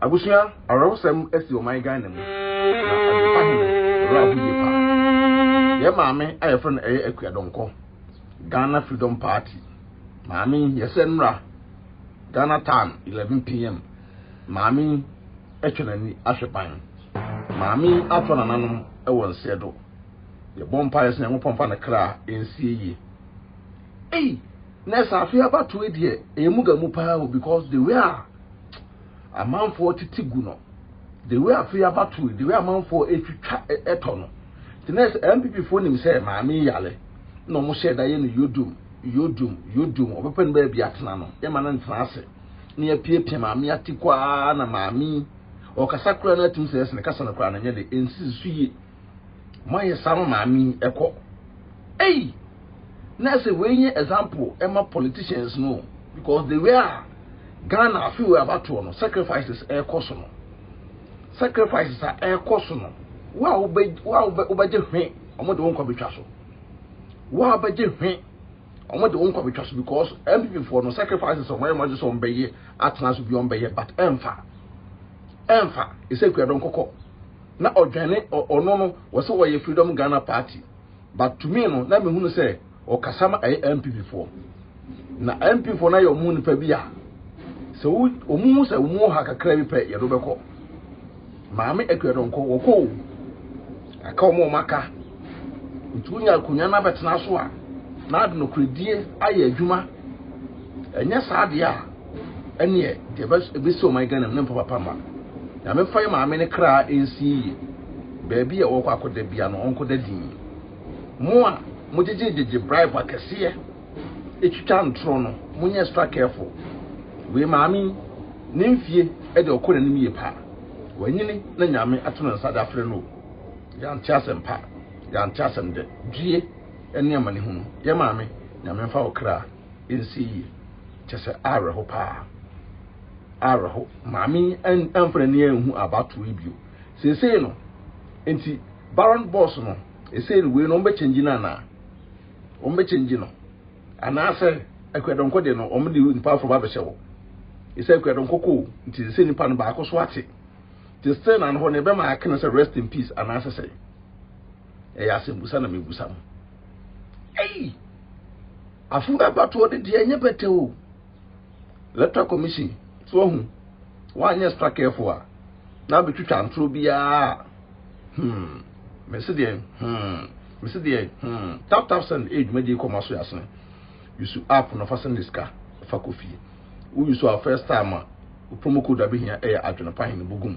Abusua awerɛhosɛm asi ɔman Ghana mu na Adwempa he no werɛ aho yie paa. Yɛ maame a yɛfrɛ no ɛyɛ Akua Donkɔ, Ghana Freedom Party maame yi, yɛsɛ mmra Ghana tan 11 PM maame yi atwa n'ani ahwɛ ban. Maame yi atɔ nananom wɔ nseɛ do. Yɛbɔ mpaeɛ sɛ Nyankopɔn mfa ne kra nsie yie. Ei! Nurse Afeaba toe deɛ ɛyɛ muga mu paa o because the way a amanfoɔ tete gu no the way afei abatoɔ yi the way amanfoɔ ɛtwitwa ɛtɔ no nti na ɛsɛ NPP foɔ nim sɛ maame yale na wɔn hyɛ da yɛ no yodum yodum yodum ɔbɛpɛ no baabi atena no yɛma no ntena ase na yɛpiapia maame ati kɔ ara na maame ɔkasa koraa no atim sɛ ɛsene kasa no koraa no nyɛ de ɛnsisi so yie moayɛ saa ma maame yi ɛkɔ ei na sɛ wei nyɛ example ɛma politicians no because the way a ghana afi wei abatoɔ no sacrifices ɛkɔ so no sacrifices a ɛkɔ so no wo a wobɛgye hwe wɔn de wo nkwa bɛtwa so wo a wobɛgye hwe wɔn de wo nkwa bɛtwa so because npp foɔ no sacrifices wɔn ayɛ wɔn agye sɛ wɔn bɛyɛ atena so bi wɔn bɛyɛ but ɛnfa ɛnfa ɛsɛ kuadɔn kɔkɔ na ɔdwane ɔ ɔno no wɔse ɔyɛ freedom Ghana party but to me no na mehunu sɛ ɔkasa ma ɛyɛ NPP foɔ na NPP foɔ no ayɛ ɔmo nipa bi a sɛ wo ɔmo hu sɛ ɔmo ha kakra bi pɛ yɛde wobɛkɔ maame akuadɔnkɔ wɔkɔ o aka ɔmo ɔmo aka nti wonya akonnwa no abɛtena so a na ade nokoredie ayɛ adwuma ɛnyɛ saa deɛ a Ɛneɛ deɛ ɛbɛsi ɔman Ghana mu no mpa papa mma no. Nyame mfa yɛ maame no kra nsi yie. Baabi a ɔɔkɔ akɔda bia no ɔnkɔ da dinn. Mo a mo gyegye gyegye bribe akɛseɛ ɛtwitwa ntorɔ no mo nyɛ extra careful. Wei maame yi ne mfie deɛ ɔkɔ n'anim yie paa. Wanyini na Nyame ato ne nsa de afrɛ no o. Yɛante asɛm pa, yɛante asɛm dɛ. Due ne amanehunu. Yɛ maame Nyame mfa wo kra. nsi yie kyɛ sɛ awerɛho paa awerɛho maame yi amfa n'ani anhu abatoɔ yi bio seesei no nti baron boss no ɛsei no wei no wɔbɛkyɛngyi no anaa wɔbɛkyɛngyi no anaasɛ akuadɔnkɔ deɛ no wɔde nipa aforo ba bɛhyɛ hɔ ɛsɛ akuadɔnkɔ kɔ nti sɛ nipa no baako so ate te still na no hɔ no ɛbɛma aka no sɛ rest in peace anaasɛ sɛ ɛyɛ asɛmbusa na mebusa mo ei afo abatoɔ de deɛ ɛnyɛ bɛtɛ o electoral commission so ɔho woanyɛ extra careful a na abɛtwitwa ntorɔ biara hmm mese deɛ hmm mese deɛ hmm tap tap send ɛyɛ dwumadie kɔma so yɛasene yusu app no fa send sika fa kɔ fie woyusu a first time a promo code abɛhia ɛyɛ adwene pa hene bogum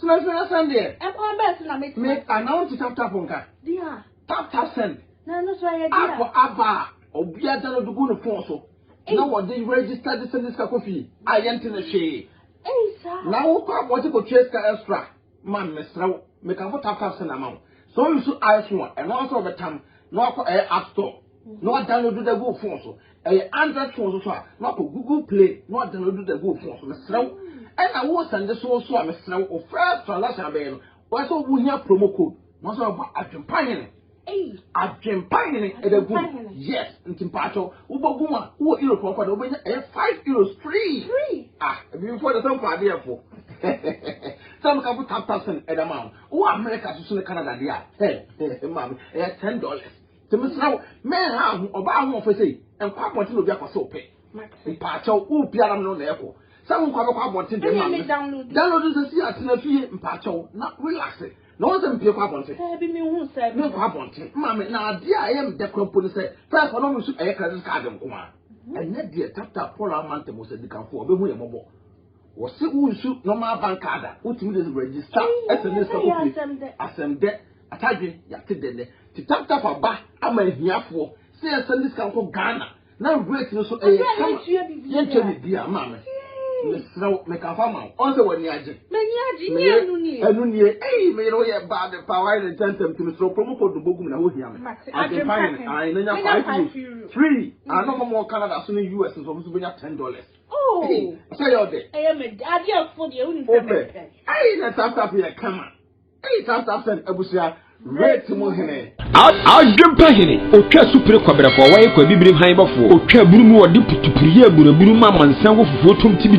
Tena ase na send deɛ. Ɛkwan bɛn so na mɛtumi Me asɛn? anaa wonte tap tap nka? Dear, Tap tap send. na ɛno so ɛyɛ App dear. aba a obiara download gu ne phone so na Ei. wɔde register de send sika kɔ fie a yɛnte no hwee. Ei saa. Na wokɔ abɔnten kɔtua sika extra ma me, mesrɛ wo. Mekamfo tap tap send ama wo. Sɛ wo use iPhone a, ɛno ara nso na wɔbɛtam na wakɔ ɛyɛ app store. na wɔadownload de agu wo phone so. Ɛyɛ Android phone so so a, na wakɔ Google Play na wɔadownload de agu wo phone so. Mesrɛ wo, ɛna wo sɛnde so so a, mesrɛ wo, wo first transaction abɛyɛ no, wɔyɛ sɛ wohia promo code, na wɔsɛ wɔbɔ adwempa hene. Adwempa hene ɛda gu mu. Yes, nti mpaakyɛw, wobɔ gu mu a, wowɔ Europe hɔ kɔ de, wobɛnya ɛyɛ five euros free. Ah, abibifo de sɛ mfa adeɛfo. Sɛ meka fo tap tap send ɛda ma wo. Wowɔ America so so ne Canada deɛ a, hɛ, maame, ɛyɛ ten dollars. Nti mesrɛ wo, menha aho, ɔbaa ahoɔfɛ sei, nkɔ abɔnten na obi akɔ sɛ ɔpɛ. Mpaakyɛw, wo pia na me ne wo na ɛkɔ. Sɛ wo nkɔ abɛkɔ abɔnten deɛ ma me. Download sɛ si atena fie mpaakyɛw na relax. Na wɔn sɛ mpie kɔ abɔnten. Daabi menhu saa bi. Menkɔ abɔnten, ma me. Na adeɛ a ɛyɛ me dɛ kora mpo ne sɛ, first wɔnom nso ɛyɛ credit card nko ara. Ɛnyɛ deɛ tap tap Paul Amantam Osadikafo a ɔbɛhu yɛn mmɔbɔ. Wɔse wo nsu normal bank card a, wotumi de register sms na kɔpie. Asɛm dɛ! Atadwe, yɛate dɛ nnɛ. Nti tap tap aba ama ahiafoɔ sɛ yɛnsɛnde sika nkɔ Ghana na rate no nso ɛyɛ kama. Yɛntua biribiara. Maame, mesrɛ wo, meka fa ma wo. Ɔn sɛ w'ani agye? M'ani agye, nyɛ ɛno nie? Ɛno nie. Ei, me yere woyɛ bad paa, wayɛ no ntɛntɛm nti mesrɛ wo promo code no bɔgu me na hohia me. Adwempa hene, ae, mɛnya five euros. Free! Ae na ɔmɔmɔ wɔ Canada so ne US nso ɔmo nso bɛnya ten dollars. Oh. Hey, sɛ yɛ ɔdɛ. Ɛyɛ mɛ adi afo deɛ wuni sɛ mɛ pɛ. Ɛyi na saa staff yɛ kama. Ɛyi saa staff sɛn abusua rate mu hene. Adwempa hene otwa supere kɔbrɛkɔ ɔwa yɛ kɔ abibirim han bɔfoɔ otwa bunu mu ɔde putupuriyɛ abunabunu ma amansan wɔ fufuo tom ti bi.